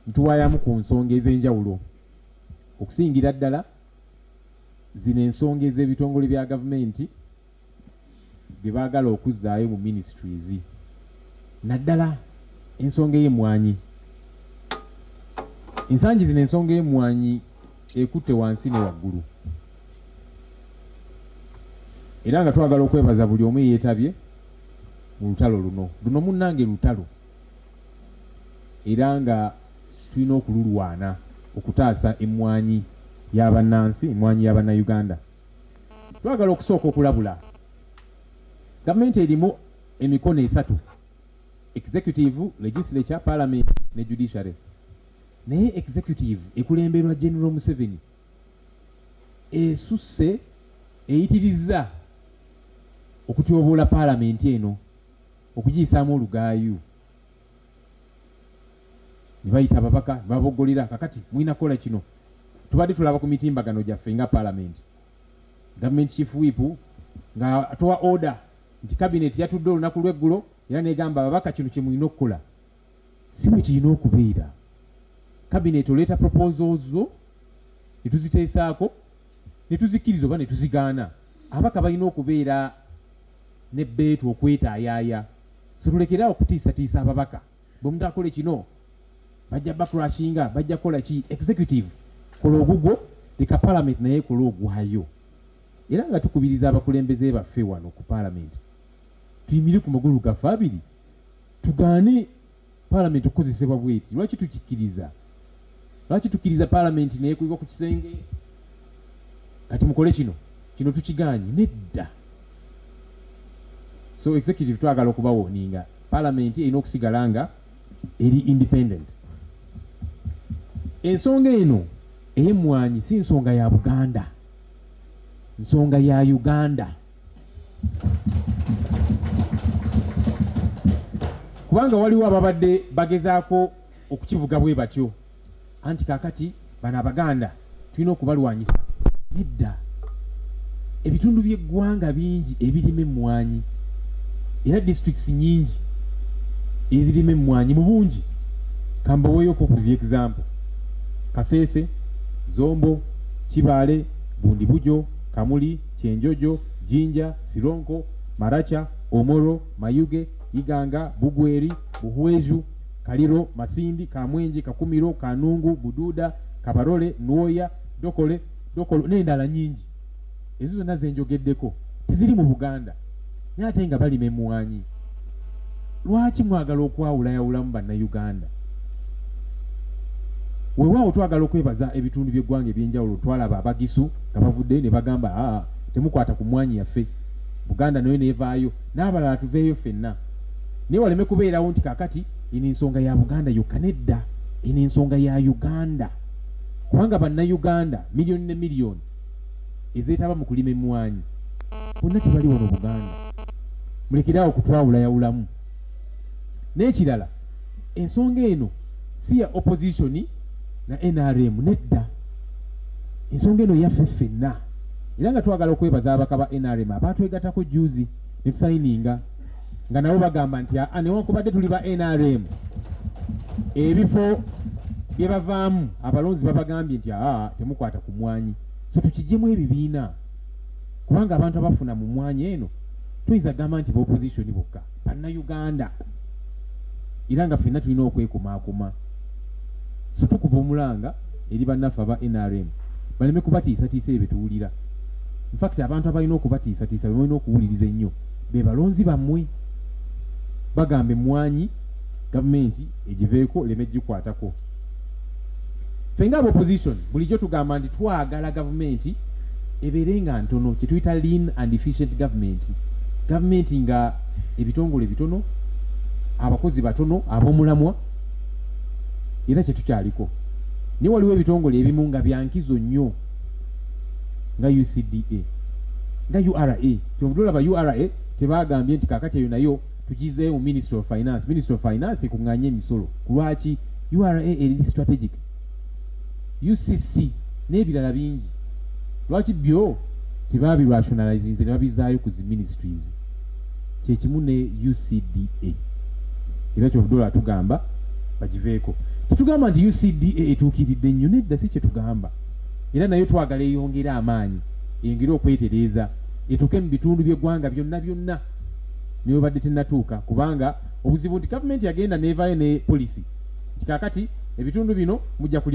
ntuwayamu ku nsonga ez'enjawulo okusingira ddala zino ensonga ez'ebitongole bya gavumenti bye baagala okuzzaayo mu ministries naddala ensonga ey'emmwanyi ensangi zino ensonga ey'emmwanyi ekutte wansi ne waggulu era nga twagala okwebaza buli omu eyeetabye mu lutalo luno luno munnange lutalo era nga tulina okululwana okutaasa emmwanyi y'abannansi emmwanyi y'abannayuganda twagala okusooka okulabula gavumenti erimu emikono esatu executive legislature parliament ne judiciary naye executive ekulemberwa general museveni esusse eyitirizza okutyoboola paalamenti eno okugiyisaamu olugaayu ne bayita ababaka ne baboggolera kakati mulina kukola kino tubadde tulaba ku mitimbagano gyaffe nga paalamenti gavumenti chief whip nga atowa order nti kabineeti yatudde olunaku lweggulo era negamba ababaka kino kyemulina okukola si bwe kirina okubeera kabineeti oleeta proposal zo ne tuziteesaako ne tuzikkiriza oba ne tuzigaana abaka balina okubeera ne beetu okwetaayaaya situlekere awo kutiisatiisa ababaka bwe mutakole kino bajja bakurashinga bajja kukola ki executive kola ogugwo leka palamenti naye kola ogwayo era nga tukubiriza abakulembeze baffe wano ku palamenti tuyimire ku magulu gaffe abiri tugaane palamenti okukozesebwa bweti lwaki tukikiriza lwaki tukiriza palamenti neyekuyibwa ku kisenge kati mukole kino kino tukiganye nedda so executive twagala okubawoninga palamenti erina okusigala nga eri independent ensonga eno eyemwanyi si nsonga ya buganda nsonga ya uganda kubanga waliwo ababadde bagezaako okukivuga bwe batyo anti kakati bano abaganda tulina okubalwanyisa nedda ebitundu by'eggwanga bingi ebirima emmwanyi era districts nyingi ezirima emmwanyi mu bungi kambaweeyoko okuzi example kaseese zombo kibaale bundi bujo kamuli Kyenjojo, Jinja, Sironko, Maracha, Omoro, Mayuge, Iganga, Bugweri, Buhweju, Kaliro, Masindi, Kamwenje, Kakumiro, Kanungu, Bududa, Kabarole, Nwoya, Dokole, Dokolo n'endala nyingi. Ezo zonna ze njogeddeko teziri mu Buganda. naye ate nga balima emwanyi lwaki mwagala okwawulayawulamu bannayuganda wewaawo twagala okwebaza ebitundu byeggwanga ebyenjawulo twalaba abagisu nga bavuddeyo ne bagamba aa temukwata ku mwanyi yaffe buganda nayo nevaayo n'abalala tuveeyo fenna naye waleme kubeerawo nti kakati eno ensonga ya buganda yokka nedda eno ensonga ya uganda kubanga bannayuganda miliyoni ne miliyoni ezeetaba mu kulima emmwanyi bonna tebali wano buganda mulekere awo kutwawulayawulamu n'ekirala ensonga eno si ya opposition na nrm nedda ensonga eno yaffe ffenna era nga twagala okwebaza abaka ba nrm abaatwegatako juzi ne tusayininga nga nabo bagamba nti aa ah, ah, newankubadde tuli ba nrm ebifo bye bavaamu abalonzi babagambye nti aa ah, temukwata ku mwanyi so tukijjemu ebibiina kubanga abantu abafuna mu mwanya eno tuyinza gamba nti baopozisoni bokka bannayuganda era nga fenna tulina okwekumaakuma so tukuba omulanga eri bannaffe aba nrm baleme kubatiisatiisa ebyo tuwulira infact abantu abalina okubatiisatiisa bebalina okuwuliriza ennyo be balonzi bammwe bagamba emmwanyi gavumenti egiveeko oleme gikwatako ffe nga abaopposition bulijjo tugamba nti twagala gavumenti ebeere nga ntono kyetuyita lean and efficient government gavumenti nga ebitongole bitono abakozi batono abomulamwa era kyetukyaliko naye waliwo ebitongole ebimu nga byankizo nnyo nga ucda nga ura kyovudde olaba ura tebagambye nti kakati eyo nayo tugizeeyo mu ministry of finance ministry of finance ekunganye emisolo kulwaki ura eri strategic ucc n'ebirala bingi lwaki byo tebabirationalizinze ne babizaayo ku zi ministries kyekimu ne ucda era kyovudola atugamba bagiveeko tetugamba nti ucda etuukiridde nnyo nedda si kyetugamba era nayo twagala eyongere amaanyi eyongere okwetereeza etuuke mu bitundu by'eggwanga byonna byonna newebadde tenatuuka kubanga obuzibu nti gavumenti yagenda nevayo ne polisi nti kakati ebitundu bino mujja kulima